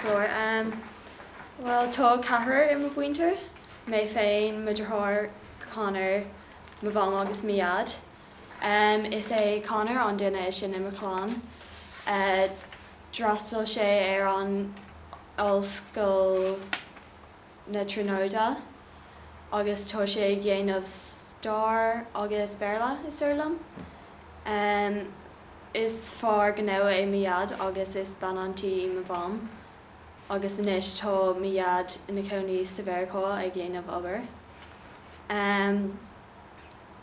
Ceathrar. Bhuel, tá ceathrar i mo mhuintir, mé féin, mo dheartháir Conor, mo mham agus mo dhaid. Is é Conor an duine is sine i mo chlann. D'fhreastail sé ar an ollscoil. na Tríonóide agus tá sé ag dhéanamh Stair agus Béarla, is dóigh liom. Is fear gnó é mo Dhaid agus is bean tí í mo Mham agus anois tá mo Dhaid ina chónaí sa Mheiriceá ag dhéanamh obair.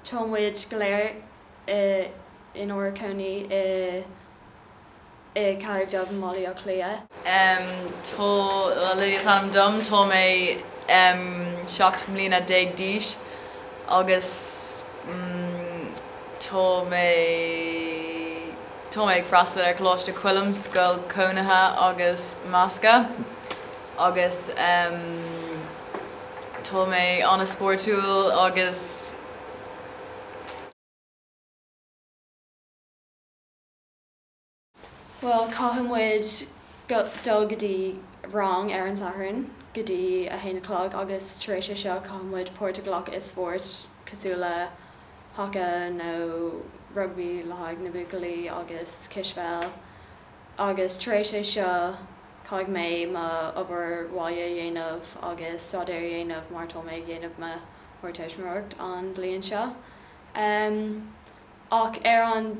Tá muid go léir inár gcónaí i. i Carraig Dubh i mBaile Átha Cliath. Lily is ainm dom. Tá mé seacht mbliana déag d'aois agus tá mé tá mé ag freastal ar Choláiste Choilm, scoil chónaithe agus measctha, agus tá mé an-spórtúil agus. Bhuel, caithfidh muid dul go dtí rang ar an Satharn go dtí a haon a chlog agus tar éis é seo caithfidh muid páirt a ghlacadh i spórt cosúil le haca nó rugbaí le haghaidh na buachaillí agus cispheil agus tar éis é seo caithfidh mé mo obair bhaile a dhéanamh agus staidéar a dhéanamh mar tá mé ag dhéanamh mo hardteistiméireacht an bhliain seo. Ach ar an.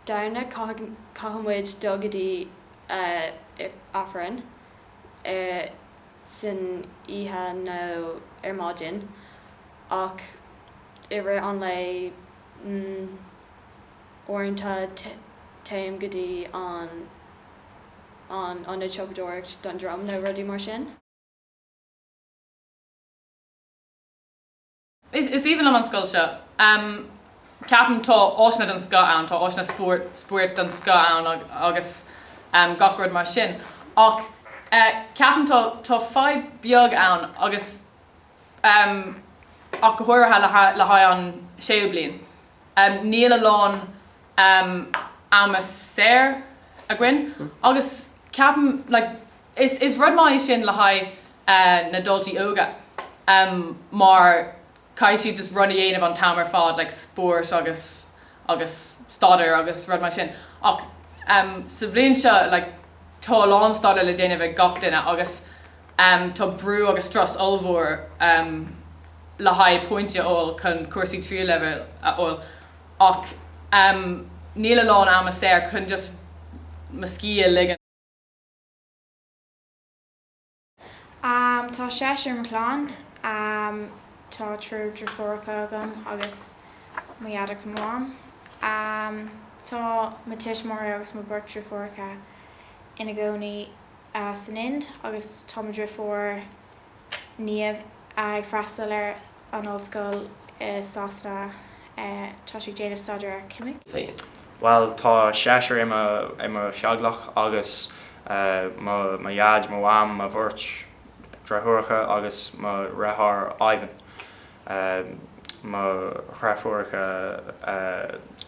Domhnach caithfidh muid dul go dtí Aifreann ar san oíche nó ar maidin ach i rith an lae uaireanta téim go dtí an an ionad siopadóireacht Dún Droma nó rudaí mar sin. Is aoibhinn liom an scoil seo. Ceapaim tá áiseanna den scoth ann, tá áiseanna spóirt den scoth ann agus gach rud mar sin. Ach ceapaim tá tá fadhb beag ann agus ach go háirithe le haghaidh an séú bliain. Níl a lán ama saor againn agus ceapaim like is is rud maith é sin le haghaidh na daltaí óga mar caithfidh siad just rud a dhéanamh an t-am ar fad like spóirt agus agus staidéar agus rud mar sin ach sa bhliain seo like tá a lán staidéar le déanamh ag gach duine agus tá brú agus strus ollmhór le haghaidh pointí a fháil chun cúrsaí tríú leibhéal a fháil ach níl a lán ama saor chun just mo scíth a ligean. Tá seisear i mo chlann. Tá triúr driofúracha agam agus mo dhaid agus mo mham. Tá mo tuismitheoirí agus mo beirt driofúracha ina gcónaí san Ind agus tá mo dhriofúr, Niamh, ag freastal ar. an ollscoil i Sasana, tá sí ag déanamh staidéir ar cheimic. féin. Bhuel, tá seisear i mo theaghlach agus mo dhaid, mo mham, mo bheirt dhriofúracha agus mo dheartháir Ivan, mo dhriofúracha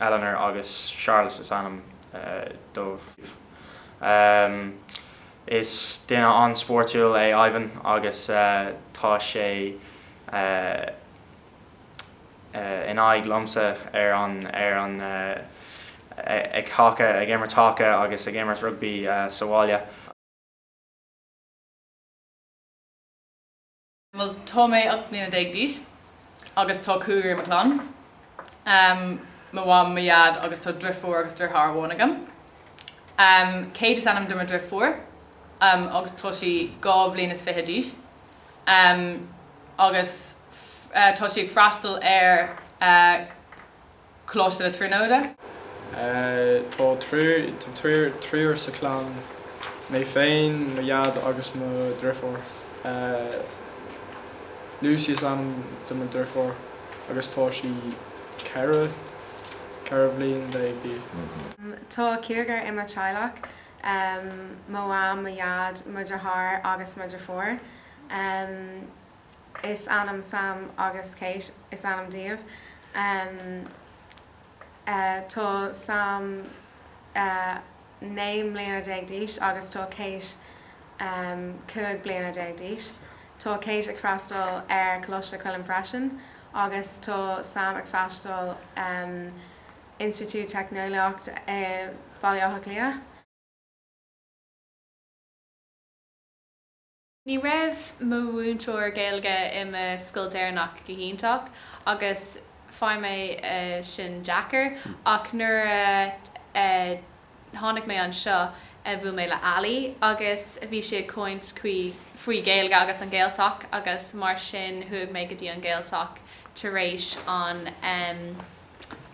Eleanor agus Charlotte is ainm dóibh. Is duine an-spóirtiúil é Ivan agus tá sé in aghaidh liomsa ar an ar an ag haca, ag imirt haca agus ag imirt rugbaí sa bhaile. Bhuel, tá mé ocht mbliana déag d'aois agus tá cúigear i mo chlann, mo mham, mo dhaid agus tá driofúr agus deartháir amháin agam. Kate is ainm do mo dhriofúr agus tá sí dhá bhliain is fiche d'aois agus tá sí ag freastal ar. Coláiste na Tríonóide. Tá triúr sa chlann, mé féin, mo dhaid agus mo dhriofúr. Lucy is ainm do mo dhriofúr agus tá sí ceithre bhliain déag d'aois. Tá cúigear i mo theaghlach, mo mham, mo dhaid, mo dheartháir agus mo dhriofúr. is ainm Sam agus Kate is ainm díobh. Tá Sam naoi mbliana déag d'aois agus tá Kate cúig bliana déag d'aois. Tá Kate ag freastal ar Choláiste Choilm freisin agus tá Sam ag freastal ar Institiúid Teicneolaíocht i Bhaile Átha Cliath. Ní raibh mo mhúinteoir Gaeilge i mo scoil deireanach go hiontach agus fuair mé é sin deacair ach nuair a tháinig mé anseo bhuail mé le Ali agus bhí sí ag caint faoi Gaeilge agus an Gaeltacht agus mar sin chuaigh mé go dtí an Gaeltacht tar éis an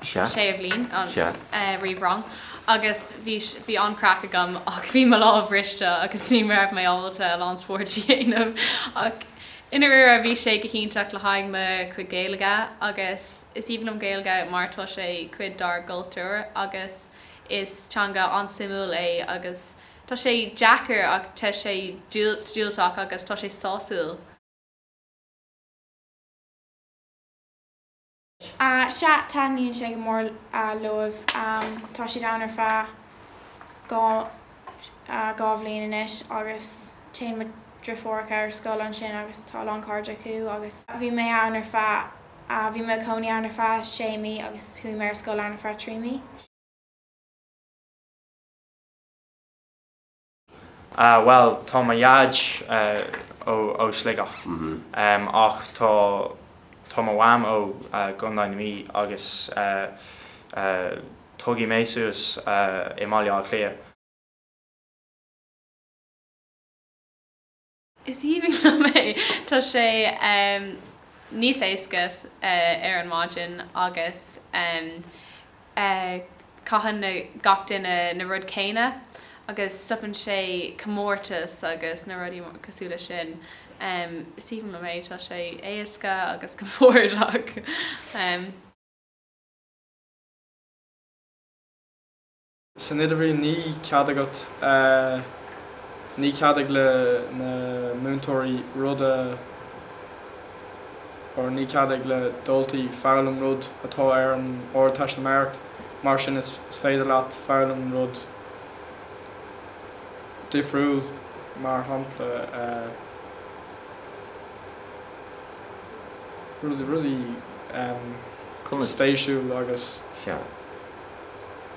Sea. Séú bliain, an. Sea. eh, réamhrang agus bhí, bhí an-craic agam ach bhí mo lámh bhriste agus ní raibh mé ábalta a lán spóirt a dhéanamh ach i ndairíre bhí sé go hiontach le haghaidh mo chuid Gaeilge agus is aoibhinn liom Gaeilge mar tá sé cuid dár gcultúr agus is teanga an-suimiúil é agus tá sé deacair ach tá sé diúltach agus tá sé sásúil. Sea, taitníonn sé go mór leo. Tá siad ann ar feadh dhá bhliain anois agus téann mo dhriofúracha ar scoil ansin agus tá a lán cairde acu agus bhí mé ann ar feadh, bhí mé i gcónaí ann ar feadh sé mí agus chuaigh mé ar scoil ann ar feadh trí mhí. Ah, bhuel, tá mo dhaid ó Sligeach, ach tá tá mo mham ó Contae na Mí agus tógadh mé suas i mBaile Átha Cliath. Is aoibhinn liom é. Tá sé níos éasca ar an maidin agus caitheann gach duine na rud céanna agus stopann sé comórtais agus na rud cosúil leis sin. Is aoibhinn liom é. Tá sé éasca agus compordach. San idirbhliain ní cead agat, ní cead ag le na múinteoirí rud a or ní cead ag le daltaí foghlaim rud atá ar an ardteistiméireacht, mar sin is féidir leat foghlaim rud difriúil, mar shampla rudaí, rudaí, em, conas, spéisiúil agus. Sea.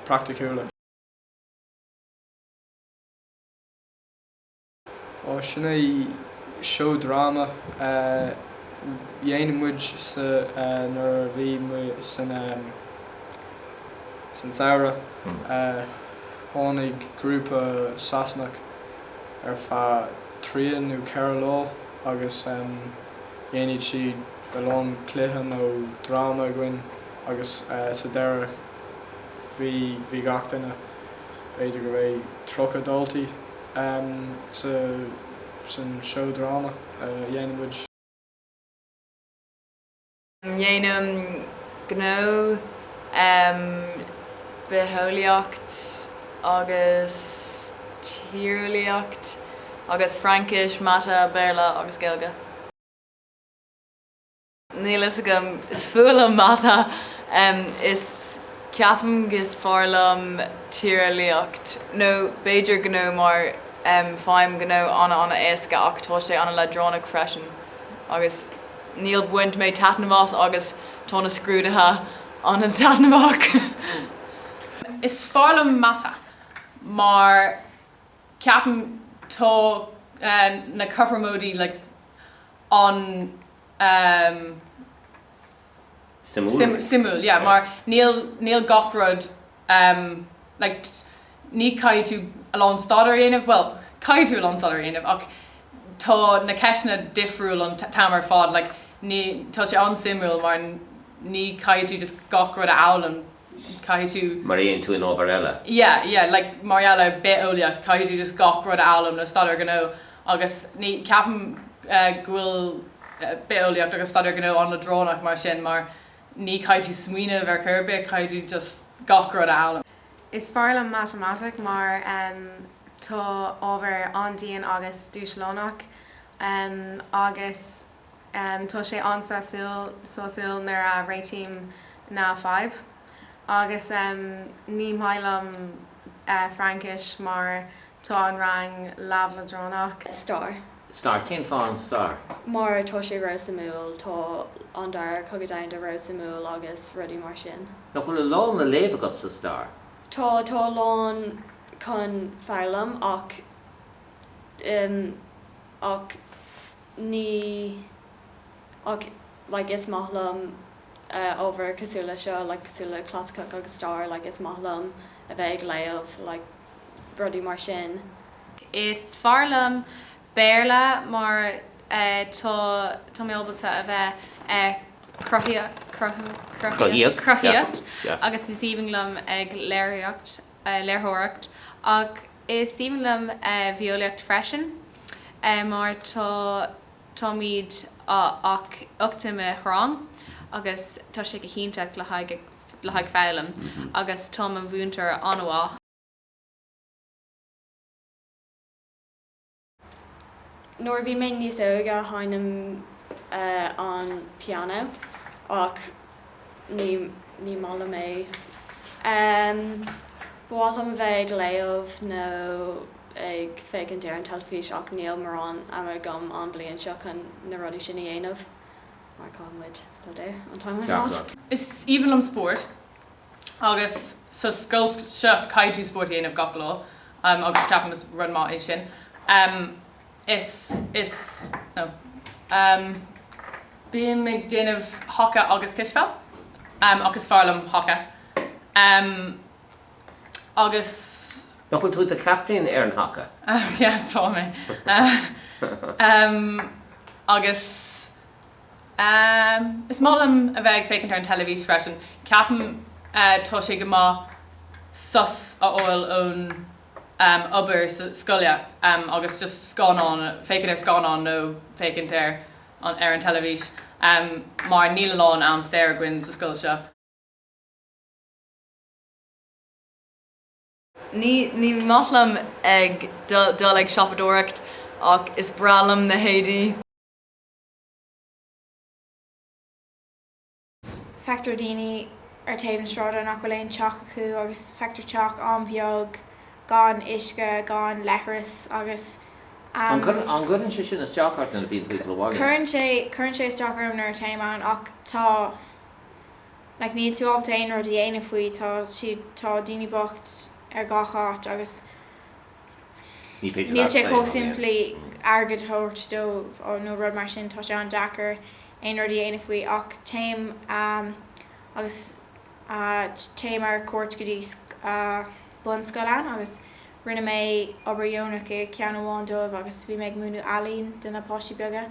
praiticiúla. Á, sin é seó dráma a dhéanadh muid sa, nuair a bhí muid san, san samhradh. Tháinig grúpa Sasanach ar feadh trí nó ceithre lá agus dhéanadh siad a lán cluiche nó dráma againn. Agus sa deireadh, bhí gach duine, b'fhéidir go raibh tríocha daltaí sa, san seó dráma a dhéanann muid. Déanaim gnó em bitheolaíocht agus tíreolaíocht agus Fraincis, Mata, Béarla agus Gaeilge. Níl fhios agam. Is fuath liom mata is ceapaim is fearr liom tíreolaíocht, nó b'fhéidir gnó mar faighim gnó an-an-éasca ach tá sé an-leadránach freisin agus níor bhain mé taitneamh as agus tá na scrúdaithe an-taitneamhach. Is fearr liom mata mar ceapaim tá na cothromóidí like an. suimiúil, suimiúil, yeah, mar níl, níl gach rud, like, ní, caithfidh tú a lán staidéir a dhéanamh, bhuel, caithfidh tú a lán staidéir a dhéanamh ach tá na ceisteanna difriúil an t-am ar fad, like, ní, tá sé an-suimiúil mar ní, caithfidh tú just gach rud a fhoghlaim Caithfidh tú. Maraíonn tú an ábhar eile. Yeah, yeah, like, mar gheall ar bith-eolaíocht, caithfidh tú just gach rud a fhoghlaim nó staidéar gnó agus ní, ceapaim go bhfuil bith-eolaíocht agus staidéar gnó an-leadránach mar sin mar ní, caithfidh tú smaoineamh ar chor ar bith, caithfidh tú just gach rud a fhoghlaim. Is fearr liom matamaitic mar tá ábhar an-dian agus dúshlánach agus. Tá sé an-sásúil, sásúil nuair a réitím na fadhbanna. Agus ní maith liom Fraincis mar tá an rang leamh leadránach. Stair. Stair? Cén fáth an stair? Mar tá sé ró-suimiúil. Tá an Dara Cogadh Domhanda ró-suimiúil agus rudaí mar sin. Nach bhfuil a lán le léamh agat sa stair? Tá, tá a lán chun foghlaim ach, ach. Ní. Ach, like, is maith liom ábhar cosúil le seo, like, cosúil le clasaiceach agus stair, like, is maith liom a bheith ag léamh, like, rudaí mar sin. Is fearr liom Béarla mar tá, tá mé ábalta a bheith ag cruthaíocht, cruthaíocht, cruthaíocht, cruthaíocht, yeah, yeah, agus is aoibhinn liom ag léiríocht. léirtheoireacht ach is aoibhinn liom bitheolaíocht freisin mar tá táimid ach ocht i mo rang agus tá sé go hiontach le haghaidh le haghaidh foghlaim agus tá mo mhúinteoir an-mhaith. Nuair a bhí mé níos óige sheinnim an pianó ach ní maith liom é. Ba mhaith liom a bheith ag léamh nó ag féachaint ar an teilifís ach níl mórán ama agam an bhliain seo chun na rudaí sin a dhéanamh mar caithfidh muid staidéar an t-am ar fad. Is aoibhinn liom spórt. Agus sa scoil seo caithfidh tú spórt a dhéanamh gach lá agus ceapaim is rud maith é sin. Is, is, no. Bím ag déanamh haca agus cispheil ach is fearr liom haca. Agus. Nach bhfuil tú i do chaptaen ar an haca? Yeah, tá mé. Agus Is maith liom a bheith ag féachaint ar an teilifís freisin. Ceapaim tá sé go maith sos a fháil ón obair scoile agus just scannán, féachaint ar scannán nó féachaint ar ar an teilifís mar níl a lán am saor againn sa scoil seo. Ní maith liom ag dul ag siopadóireacht ach is breá liom na héadaí. Feictear daoine ar taobh na sráide nach bhfuil aon teach acu agus feictear teach an-bheag gan uisce, gan leithreas agus ehm. An gcuireann sé sin isteach ort nuair a bhíonn tú ag dul abhaile? Cuireann sé, cuireann sé isteach orm nuair a téim ann ach tá, like, níl tú ábalta aon rud a dhéanamh faoi, tá siad, tá daoine bocht ar gach áit agus Ní féidir leat saol a dhéanamh. Níl sé chomh simplí airgead a thabhairt dóibh nó rud mar sin. Tá sé an-deacair aon rud a dhéanamh faoi. Ach téim agus téim ar cuairt go dtí bunscoileanna agus rinne mé obair dheonach i gceann amháin dóibh agus bhí mé ag múineadh ealaín do na páistí beaga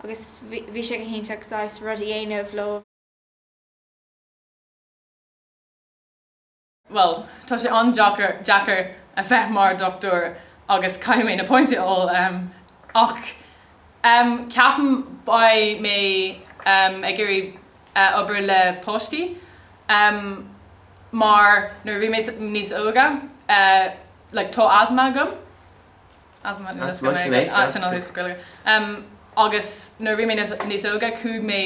agus bhí sé go hiontach saghas rud a dhéanamh leo. Bhuel, tá sé an-deacair, deacair a bheith mar dochtúir agus caithfidh mé na pointí a fháil, um, ach ceapaim beidh mé ag iarraidh obair le páistí, mar nuair a bhí mé níos óga, like, tá asma agam, asma, That's Russian, eh? Ah, sin ár nós Gaeilge. Agus nuair a bhí mé níos óga, chuaigh mé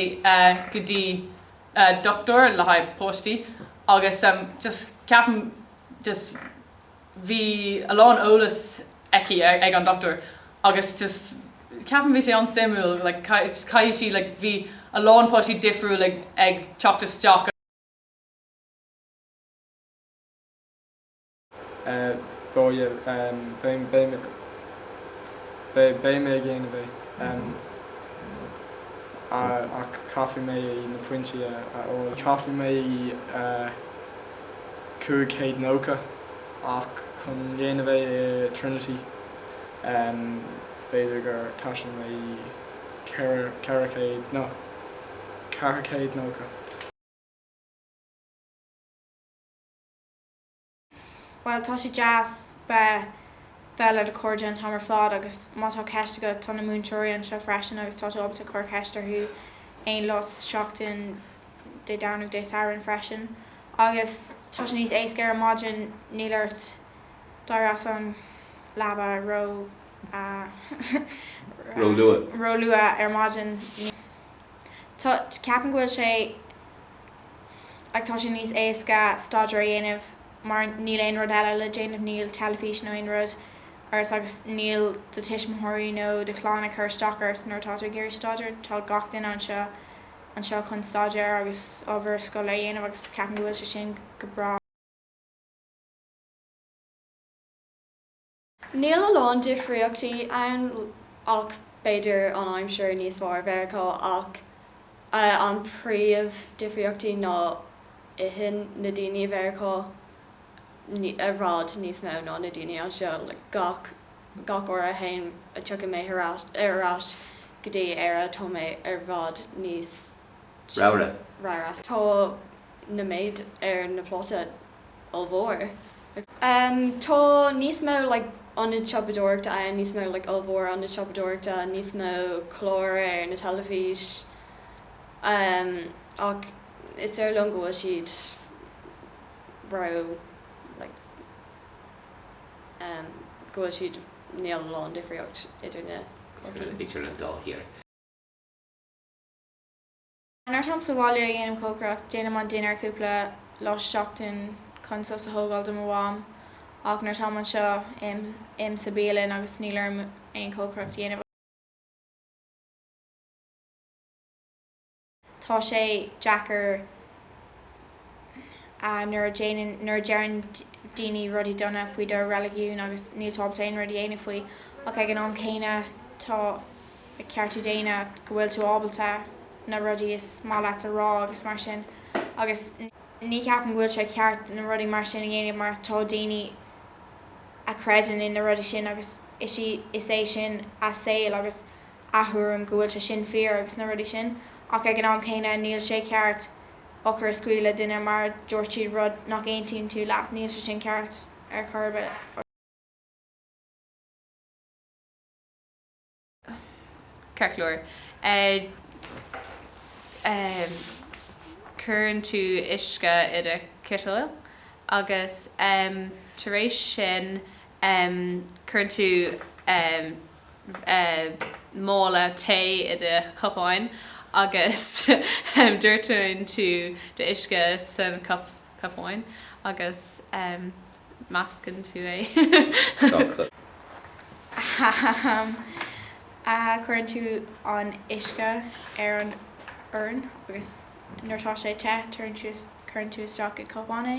go dtí dochtúir le haghaidh páistí agus just ceapaim just bhí a lán eolas aici ag an dochtúir agus just ceapaim bhí sé an-suimiúil like caithfidh sí like bhí a lán páistí difriúil ag teacht isteach Beidh mé ag dhéanamh é, ach caithfidh mé na pointí a fháil. Caithfidh mé 590 a, ach chun dhéanamh é i Trinity, b'fhéidir gur teastaíonn mé 400, no, 490. Bhuel, tá sé deas bheith, bheith le do chairde an t-am ar fad agus má tá ceist agat, tá na múinteoirí anseo freisin agus tá tú ábalta cur ceist orthu aon lá sa tseachtain, Dé Domhnaigh, Dé Sathairn freisin. Agus tá sé níos éasca ar maidin, níl ort éirí as an leaba ró, ró luath ar maidin. Tá, ceapaim go bhfuil sé. Ach tá sé níos éasca staidéar a dhéanamh mar níl aon rud eile le déanamh, níl teilifís nó aon rud ort agus níl do tuismitheoirí nó do chlann ag cur isteach ort nuair atá tú ag iarraidh staidéar. Tá gach duine anseo chun staidéar agus obair scoile a dhéanamh agus ceapaim go bhfuil sé sin go breá. Níl a lán difríochtaí ann ach b'fhéidir an aimsir níos fearr i Mheiriceá ach an príomh difríochtaí ná itheann na daoine i Mheiriceá i bhfad níos mó ná na daoine anseo. Gach uair a théim a tiocfaidh mé ar ais go dtí Éire tá mé ar bhfad níos ramhra. Tá an méid ar na pláta. ollmhór. Tá níos mó like ionaid siopadóireachta ann, níos mó like ollmhór ionaid siopadóireachta, níos mó clár ar na teilifís ach is dóigh liom go bhfuil siad ró like go bhfuil siad níl a lán difríocht idir na. idir an dá thír. Nuair atáim sa bhaile ag déanamh cócaireacht, déanaim an dinnéar cúpla lá sa tseachtain chun sos a thógáil do mo mham, ach nuair atáim anseo, ithim sa bialann agus níl orm aon chócaireacht a dhéanamh. Tá sé deacair. nuair a déanann, nuair a deireann daoine rudaí dona faoi do reiligiún agus níl tú ábalta aon rud a dhéanamh faoi ach ag an am céanna tá ceart daonna go bhfuil tú ábalta na rudaí is maith leat a rá agus mar sin agus ní cheapaim go bhfuil sé ceart na rudaí mar sin a dhéanamh mar tá daoine a chreideann in na rudaí sin agus is í, is é sin a saol agus a thuairim go bhfuil sé sin fíor agus na rudaí sin ach ag an am céanna níl sé ceart. eochair a scaoileadh le duine mar a dúirt siad rud nach n-aontaíonn tú leat, níl sé sin ceart. Ar chor ar bith. Ceart go leor, cuireann tú uisce i do chiteal agus tar éis sin cuireann tú. mála tae i do chupán agus doirteann tú d'uisce sa chupán agus meascann tú é. Cuireann tú an uisce ar an fhoireann agus nuair atá sé te cuireann tú isteach i gcupán é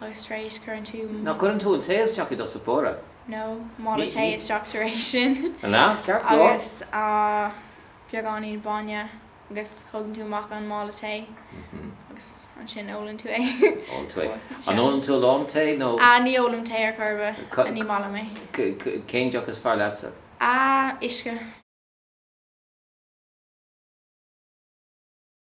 agus tar éis cuireann tú. Nach gcuireann tú an tae isteach i do suipóra? an mála tae isteach tar éis sin agus beagáinín bainne agus tugann tú amach an mála tae agus ansin ólann tú é. Ólann tú é. An ólann tú a lán tae nó? Ah ní ólaim tae ar chor ar bith, ní maith liom é. Cén deoch is fearr leatsa? Ah uisce.